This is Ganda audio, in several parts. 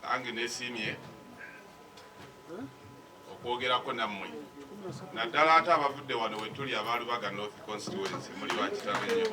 nange nesiimye okwogerako nammwe naddala ate abavudde wano wetuli abalubaga north constituency muli bakitabe nyo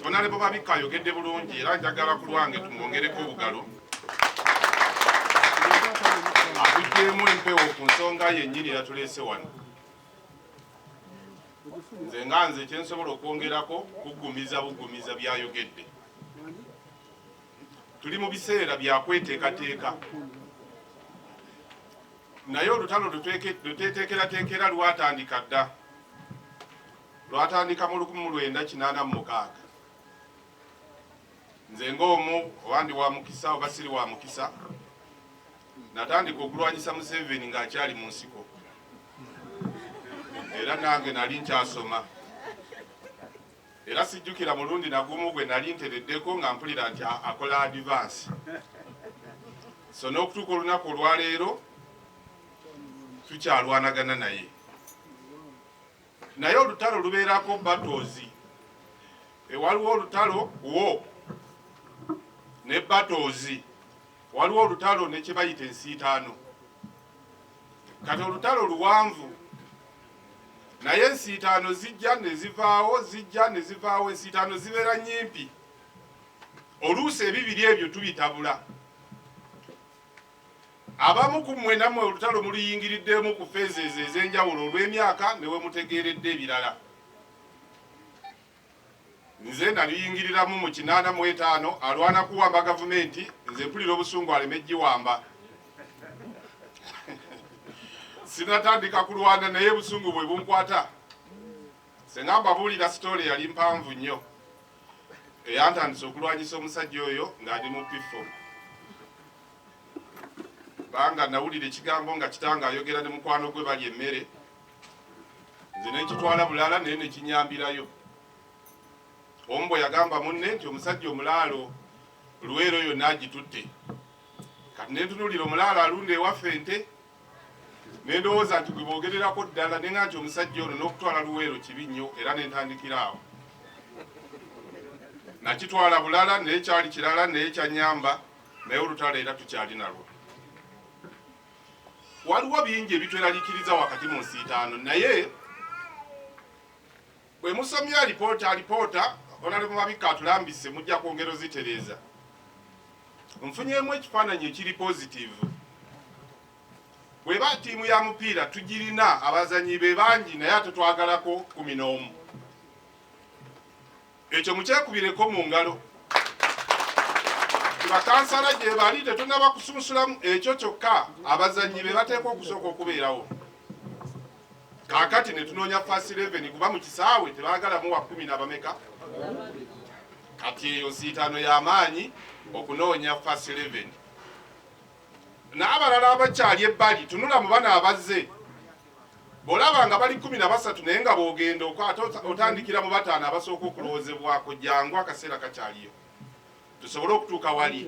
onalebo um, babikka ayogedde bulungi era njagala ku lwange tumwongereko obugalo akujeemu empewo ku nsonga yennyini yatuleese wano nze nga nze kyensobola okwongerako kugumiza bugumiza byayogedde tuli mu biseera byakweteekateeka naye olutalo luteteekerateekera lwatandika dda lwatandika mu 1986 nze ng'omu oba ndi wa mukisa oba siri wa mukisa natandika okulwanyisa museveni ng'akyali mu nsiko era nange nali nkyasoma era sijjukira mulundi nagumu gwe nali ntereddeko nga mpulira nti akola adivansi so n'okutuuka olunaku olwaleero tukyalwanagana naye naye olutalo lubeerako battles ewaliwo olutalo wo ne battles waliwo olutalo ne kye bayita ensiitaano kati olutalo luwanvu naye ensiitaano zijja ne zivaawo zijja ne zivaawo ensiitaano zibeera nnyimpi oluusi ebibiri ebyo tubitabula Abamu ku mmwe nammwe olutalo muluyingiriddemu ku phases ez'enjawulo olw'emyaka ne we mutegeeredde ebirala. Nze naluyingiriramu mu kinaana mu etaano alwana kuwamba gavumenti nze mpulira obusungu aleme giwamba. Sinatandika kulwana naye busungu bwe bunkwata. Ssenga mbabuulira sitoole yali mpanvu nnyo. eyantandise okulwanyisa omusajja oyo ng'ali mu pifo kubanga nawulira ekigambo nga kitanga ayogera ne mukwano gwe bali emmere nze nekitwala bulala naye nekinyambirayo omu bwe yagamba munne nti omusajja omulaalo luweero yonna agitutte kati nentunulira omulaalo alunda ewaffe nte ne ndowooza nti gwe boogererako ddala ne nga nti omusajja ono n'okutwala luweero kibi nnyo era ne ntandikira awo nakitwala bulala naye kyali kirala naye kyanyamba naye olutalo era tukyali nalwo waliwo bingi ebitweralikiriza wakati mu nsiitaano naye Bwe musomye alipoota alipoota Honorable Mabikka atulambise mujja kwongera ozitereeza. Nfunyeemu ekifaananyi ekiri pozitiivu. Bweba ttiimu ya mupiira tugirina abazanyi be bangi naye ate twagalako kumi n'omu. Ekyo mukyekubireko mu ngalo. Bakansala gye bali tetunnaba kusunsulamu ekyo kyokka abazannyi be bateekwa okusooka okubeerawo. kakati netunoonya fast 11 kuba mu kisaawe tebagalamu wa kumi na bameka kati eyo nsiitaano y'amaanyi okunoonya fast 11 n'abalala abakyali ebbali tunula mu bana abazze bw'olaba nga bali kumi na basatu naye nga bw'ogenda okwata otandikira mu bataano abasooka okulowoozebwako jangu akaseera kakyaliyo tusobole okutuuka wali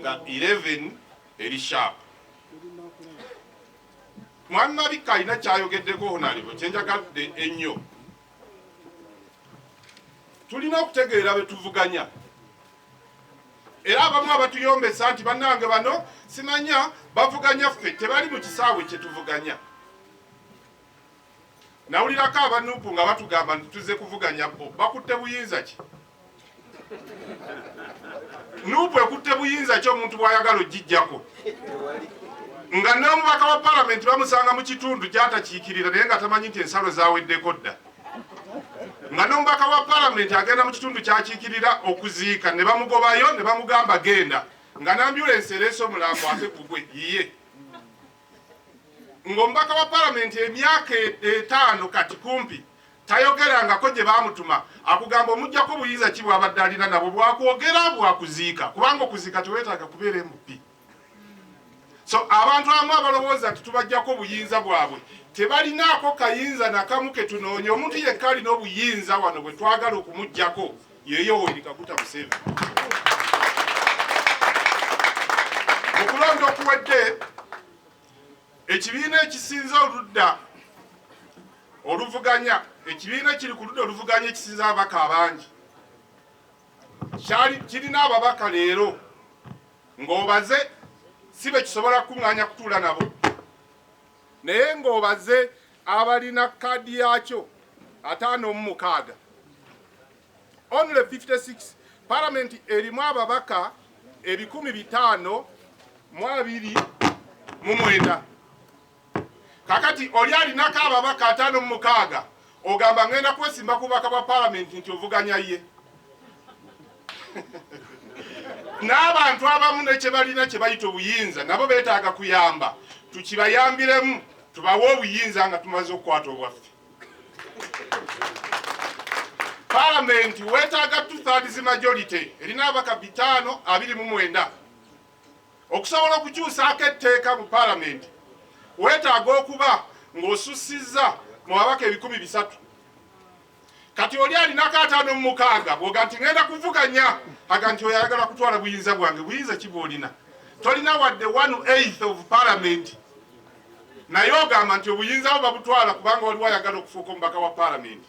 nga 11 eri shaapu Mwami Mabikka alina kyayogeddeko honalibo kyenjagadde ennyo. Tulina okutegeera betuvuganya era abamu abatuyombesa nti bannange bano simanya bavuganya ffe tebali mu kisaawe kyetuvuganya. Nawulirako aba nup nga batugamba nti tuzze kuvuganya bbo bakutte buyinza ki? Nup ekutte buyinza ki omuntu bwayagala ojjijjako nga n'omubaka wa palamenti bamusanga mu kitundu gyatakiikirira naye nga tamanyi nti ensalo zaweddeko dda nga n'omubaka wa palamenti agenda mu kitundu kyakiikirira okuziika ne bamugobayo ne bamugamba genda nga n'ambyulensi ereese omulambo ate gugwe yiye ng'omubaka wa palamenti emyaka etaano kati kumpi tayogerangako gye baamutuma akugamba omugyako buyinza ki bwabadde alina nabwo bwakwogera bwakuziika kubanga okuziika teweetaaga kubeera mp so abantu abamu abalowooza nti tubagyako obuyinza bwabwe tebalinaako kayinza nakamu ketunoonya omuntu yekka alina obuyinza wano bwe twagala okumugyako ye Yoweri Kaguta Museveni. Mu kulonda okuwedde, ekibiina ekisinza oludda oluvuganya ekibiina kiri ku ludda oluvuganya ekisinza ababaka abangi kirina ababaka leero ng'obaze si be kisobola kukuŋŋaanya kutuula nabo naye ng'obaze abalina kaadi yaakyo ataano mu mukaaga only 56 palamenti erimu ababaka ebikumi bitaano mu abiri mu mwenda kakati oli alinako ababaka ataano mu mukaaga Ogamba ngenda kwesimba ku bubaka bwa palamenti nti ovuganya ye n'abantu abamu ne kyebalina kyebayita obuyinza nabo betaaga kuyamba tukibayambiremu tubawe obuyinza nga tumaze okukwata obwaffe palamenti wetaaga two thirds majority erina abaka bitaano abiri mu mwenda Okusobola okukyusaako etteeka mu Palamenti weetaaga okuba ng'osussizza mu babaka ebikumi bisatu. Kati oli alinako ataano mu mukaaga bwoga nti ngenda kuvuganya aga nti oyo ayagala kutwala buyinza bwange. Buyinza ki bwolina? Tolina wadde one eighth of Palamenti naye ogamba nti obuyinza bwo babutwala kubanga waliwo ayagala okufuuka omubaka wa Palamenti.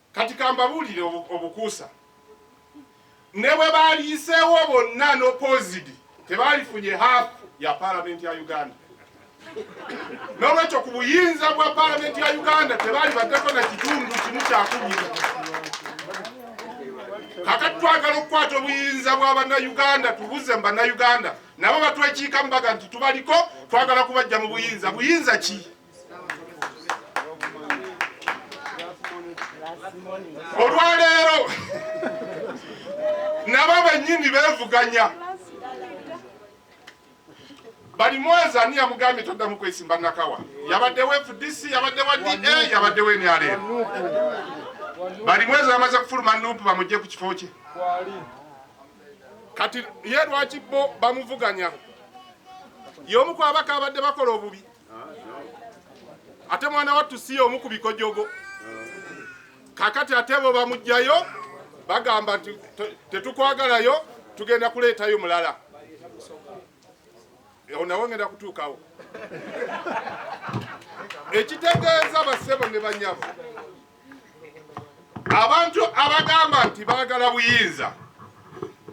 Kati kambabuulire obukuusa, ne bwe baaliyiseewo bonna n'opozidi tebaalifunye haafu ya paalamenti ya Uganda. N'olwekyo ku buyinza bwa paalamenti ya Uganda tebaali baddeko na kitundu kimu kyakumi. Kakati twagala okukwata obuyinza bwa bannayuganda tubuze mu bannayuganda nabo batwekiikamu baga nti tubaliko twagala kubajja mu buyinza. Buyinza ki? olwaleero nabo benyini bevuganya bali mwezi ani yamugambye toddamu kwesimba nakawa yabadde wa fdc yabadde wa da yabadde wa nrm bali mwezi bamaze kufuluma nupu bamugye ku kifo kye kati ye lwaki bo bamuvuganya y'omu ku abaka abadde bakola obubi ate mwana wattu si y'omu ku bikojogo kakati ate bo bamugjayo bagamba nti tetukwagalayo tugenda kuleetayo mulala ewo nawe ngenda kutuukawo ekitegeeza basebo ne banyabo abantu abagamba nti baagala buyinza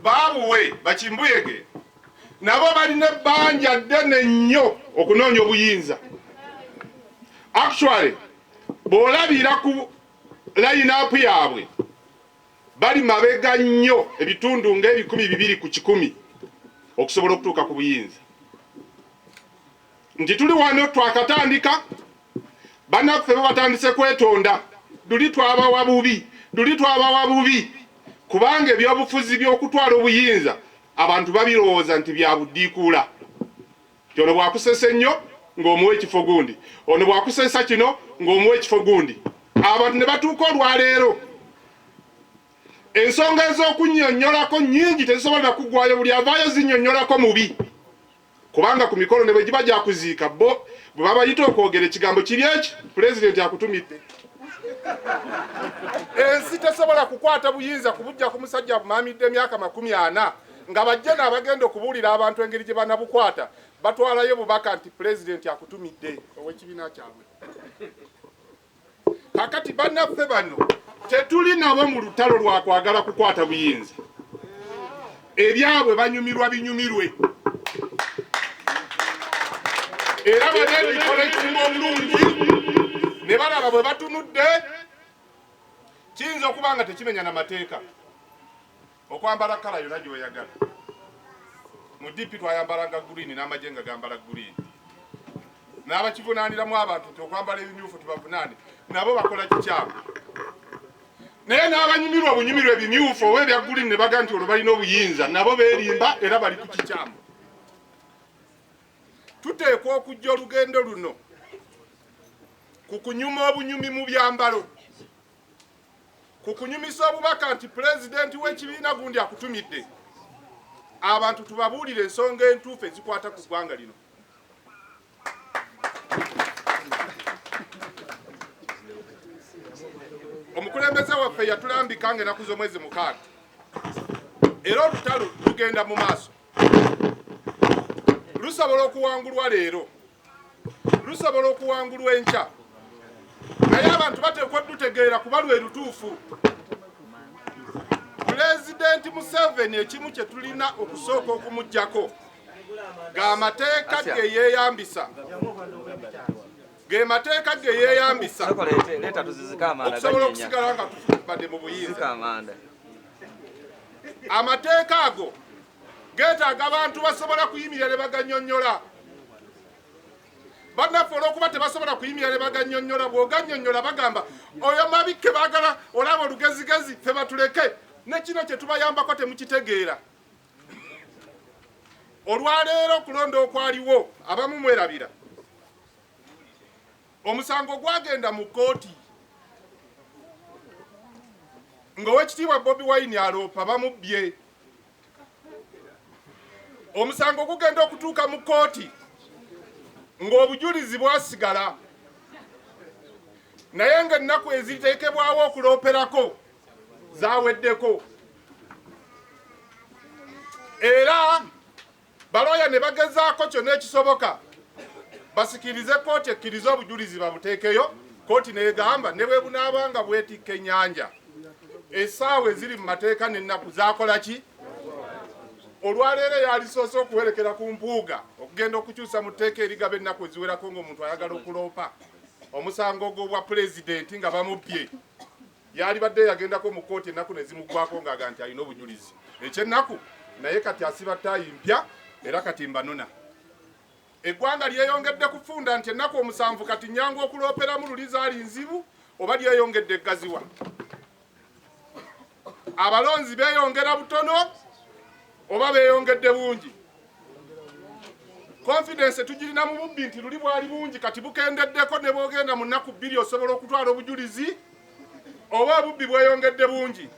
baabuwe bakimbuyege nabo balina ebbanja ddene nnyo okunoonya obuyinza actually bw'olabira ku layinaapu yaabwe bali mabega nnyo ebitundu ng'ebikumi bibiri ku kikumi okusobola okutuuka ku buyinza nti tuli wano twakatandika banaffe babatandise kwetonda luli twabawa bubi luli twabawa bubi kubanga ebyobufuzi byokutwala obuyinza abantu babirowooza nti byabudiikuula nti ono bwakusesa ennyo ng'omuwa ekifo gundi ono bwakusesa kino ng'omuwa ekifo gundi abantu ne batuuka olwaleero ensonga ez'okunyonyolako nyingi tezisobola kugwayo buli avaayo zinyonyolako mubi Kubanga ku mikolo ne bwe giba gya kuziika, bbo bwe babayita okwogera ekigambo kiri eki, Pulezidenti akutumidde. Ensi tesobola kukwata buyinza kubujja ku musajja abumaamidde emyaka makumi ana nga bajje n'abagenda okubuulira abantu engeri gye banabukwata batwalayo bubaka nti Pulezidenti akutumidde. Ow'ekibiina kyabwe. kakati banaffe bano tetuli nabo mu lutalo lwa kwagala kukwata buyinza ebyabwe banyumirwa binyumirwe era banebikola ekimu omulungi ne balaba bwe batunudde kiyinza okuba nga tekimenya na mateeka okwambala kala yona gyoyagala mu DP twayambalanga green n'amagye nga gambala green n'abakivunaaniramu abantu nti okwambala ebimyufu tubavunaane nabo bakola kikyamu naye n'abanyumirwa obunyumirwa ebimyufu oba ebya green ne baga nti olwo balina obuyinza nabo beerimba era bali ku kikyamu tuteekwa okujja olugendo luno ku kunyuma obunyumi mu byambalo ku kunyumisa obubaka nti pulezidenti w'ekibiina gundi akutumidde abantu tubabuulire ensonga entuufu ezikwata ku ggwanga lino omukulembeze waffe yatulambika nga enaku z'omwezi mukaaga era olutalo lugenda mu maaso lusobola okuwangulwa leero lusobola okuwangulwa enkya naye abantu bateekwa dutegeera kuba lwe lutuufu pulezidenti museveni ekimu kye tulina okusooka okumugjako ga mateeka ge yeeyambisa ge mateeka ge yeeyambisa okusobola okusigala nga tufubadde mu buyinza amateeka ago geetaaga abantu basobola kuyimirira ne baganyonnyola bannaffe olwokuba tebasobola kuyimirira ne baganyonnyola bw'oganyonnyola bagamba oyo mabikke baagala olaba olugezigezi fe batuleke ne kino kye tubayambako temukitegeera olwaleero okulonda okwaliwo abamu mwerabira Omusango gwagenda mu kkooti ng'owekitiibwa Bobi Wine aloopa bamubbye. Omusango gugenda okutuuka mu kkooti ng'obujulizi bwasigala naye ng'ennaku eziteekebwawo okulooperako zaweddeko era Balooya ne bagezaako kyonna ekisoboka basikirize kkooti ekkirize obujulizi babuteekeyo, kkooti n'egamba ne bwe bunaaba nga bwetikka ennyanja essaawa eziri mu mateeka n'ennaku zaakola ki? Olwaleero eyalisoose okuwerekera ku Mpuuga okugenda okukyusa mu tteeka erigaba ennaku eziwerako ng'omuntu ayagala okuloopa omusango gw'obwa pulezidenti nga bamubbye. Yaalibadde yagendako mu kkooti ennaku ne zimuggwaako ng'aga nti alina obujulizi. Ekyennaku naye kati asiba ttaayi mpya era kati mbanona. Eggwanga lyeyongedde kufunda nti ennaku omusanvu kati nnyangu okulooperamu luli zaali nzibu oba lyeyongedde eggaziwa. Abalonzi beeyongera butono oba beeyongedde bungi? confidence tugirina mu bubbi nti luli bwali bungi kati bukendeddeko ne bwogenda mu nnaku bbiri osobola okutwala obujulizi oba obubbi bweyongedde bungi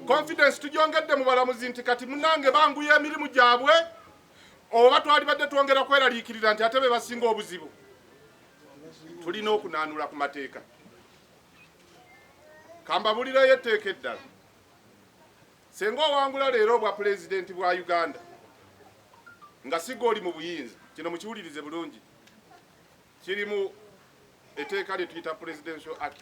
confidence tugyongedde mu balamuzi nti kati munange banguya emirimu gyabwe oba twalibadde twongera kweraliikirira nti ate be basinga obuzibu tulina okunaanula ku mateeka kambabulireyo etteeka eddala Senga owangula leero obwa pulezidenti bwa Uganda nga siga oli mu buyinza, kino mukiwulirize bulungi, kiri mu eteeka lye tuyita Presidential Act